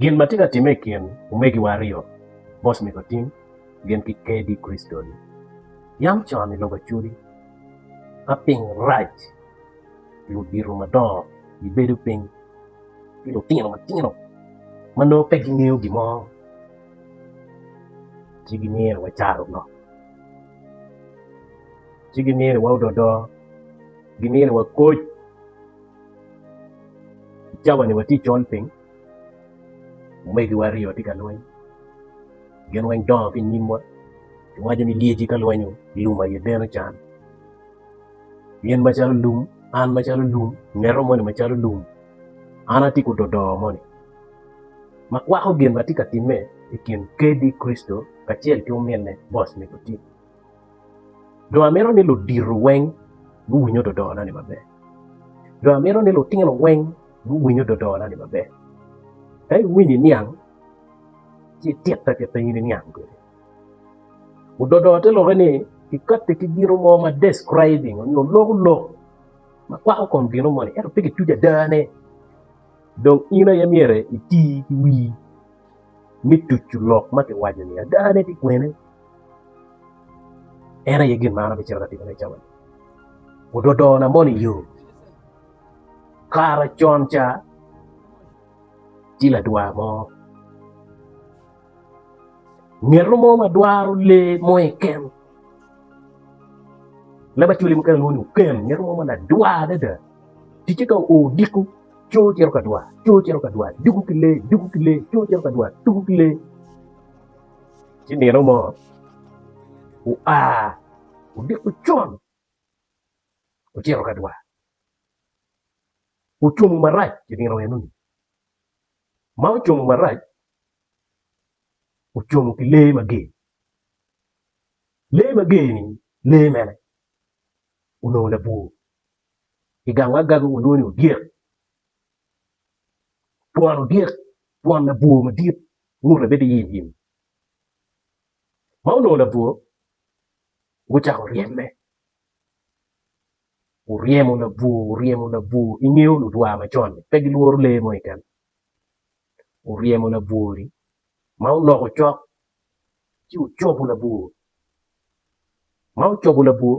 Gin ma tye ka timme i kin omegiwa aryo, Boss Mikotim gin ki KD Kristoni, yam con i lok acodi ma piny rac, ludito madongo gibedo piny ki lutino matino ma nongo pe gingeyo gin mo ci gimyero wacaru lok, ci gimyero waodo odoo, gimyero wakoc. Cawa ni watye col piny, omegiwa aryo tye ka lweny, gin weng dongo ki i nyimwa, giwaco ni lyeci ka lwenyo lum aye deno can, in macalo lum, an macalo lum, ngeto moni macalo lum, an atye ki ododoo moni ma kwako gin ma tye ka timme i kin Kadi Kricito kacel ki ominne, boss me guti. Dong amito ni ludito weng guwinyo dodona ni maber, dong amito ni lutino weng guwinyo dodona ni maber. Ka iwinyo iniang ci ititte ki piny niniang kwede. Ododo te lokke ni kikatti ki gino mo ma describing onyo loko lok ma kwako kom gino moni ento pe kituco adane. Dong in aye myero iti ki wii me tucu lok ma kiwaco-ni. Adane pi kwene? En aye gin ma an abicito ka timone i cawa-ni. Ododona mono i yo. Kara con ca, tye ladwar mo, ngeto mo ma dwaro lee mo keken. Leb acwali mukene lwongo ni oken, ngeto mo ma ladwar adada. Ticce ka oo odiko, Coo ocito ka dwar, coo ocito ka dwar, dugu ki lee, dugu ki lee, coo ocito ka dwar, dugu ki lee. Ci nino mo oa odiko con ocito ka dwar, ocumo marac i nino enoni, ma ocumo marac ocumo ki lee mager, lee mager-ni lee mene? Onongo labwor. i gang agaga walwongo ni odyek, twon odyek twon labwor madit ngute bedo yim yim ma onongo labwor gucako ryeme oryemo labwor oryemo labwor ingeyo ludwa macon-ni pe gilworo lee mo keken oryemo labwor-ri ma oloko cok ci ocobo labwor ma ocobo labwor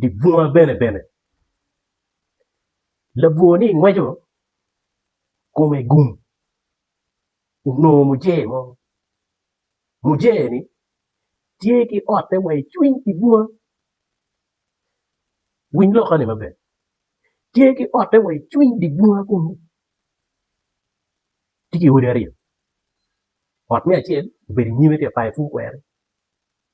dye bunga bene bene. Labwor ni ngweco kome gum onongo mujee mo, mujee ni tye ki otte wa i cwiny dye bunga, winy loka ni maber, tye ki otte wa i cwiny dye bunga kunu, tye ki odi aryo, ot me acel obedo i nyime tye ka payo pud kweri.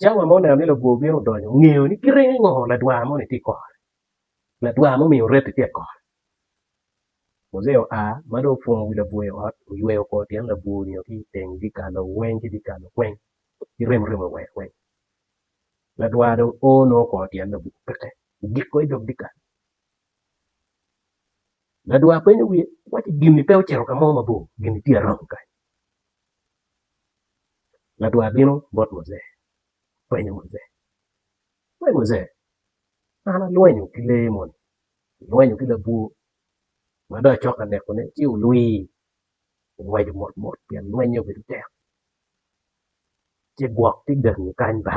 Cawa ma oneno ni labwor bino donyo, ongeyo ni kite ningo ladwar moni tye kore. Ladwar mumiyo oreto tye kore. Mojea oa ma dong opwongo wi labwor i ot, oyweyo kor tyen labwor onyo ki i teng dyekal-lo weng ki dyekal lo weng ki remoremo iwero weng. Ladwar dong o nongo kor tyen labwor peke, ogiko i dog dyekal. Ladwar penyo wiye, waci gin-ni pe ocito ka mo mabor, gin-ni tye aromo kany? Ladwar bino bot Muje, openyo Muje, We Muje, an alwenyo ki lee moni, alwenyo ki labwor ma dong acok ka nekone ci olwii ongweco mot mot pien lweny-nge obedo tek, ci gwok ci gangi kany ba.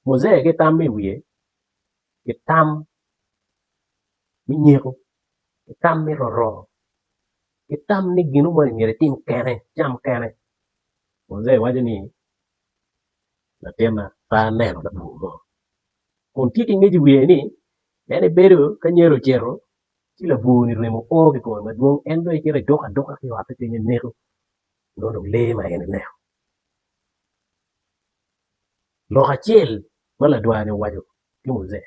Muje ki tam ma i wiye, ki tam me nyeko ki tam me roroo ki tam ni gino moni myero itim kene icam kene muzee waco ni latinna pe aneno labongo mo kun tye ki ngec i wiye ni en ebedo ka anyira ocito ci labongo ni remo o ki kome madwong en dong ecito eduko aduka ki ote kenyo eneto nongo dong lee ma en eneno lok acel ma ladwar ni owaco ki muzee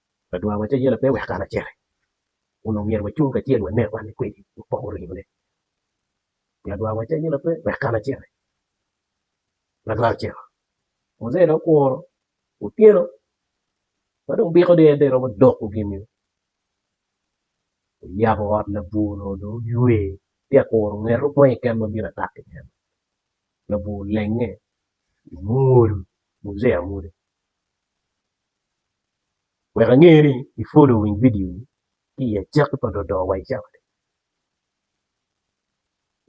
Ladwar wa cayela pe wek an aciti kun omyero wacung kacel wanek wan kwede wapok oringo ne ladwar wa cayela pe wek an aciti ladwar ocito muzee dong okuro otyeno ma dong biko dong en dong eromo doko gini oyabo ot labwor onongo dong oywe tye ka kuro ngeto mo keken ma bino atak ki en labwor olenge omwodo muzee amwoda. Wek ange ni ipwodo winy vidio ni ki i acakki pa dodo wa icawa ni.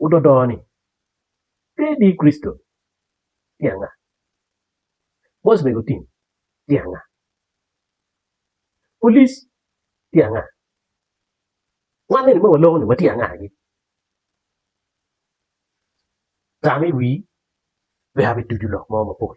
Ododo ni pe i dir Kricito tye anga? Bos mego tim tye anga? Polic tye anga? Wan eni ma waloko ni watye anga gi? Tam i wii wek abi tucu lok mo mapol.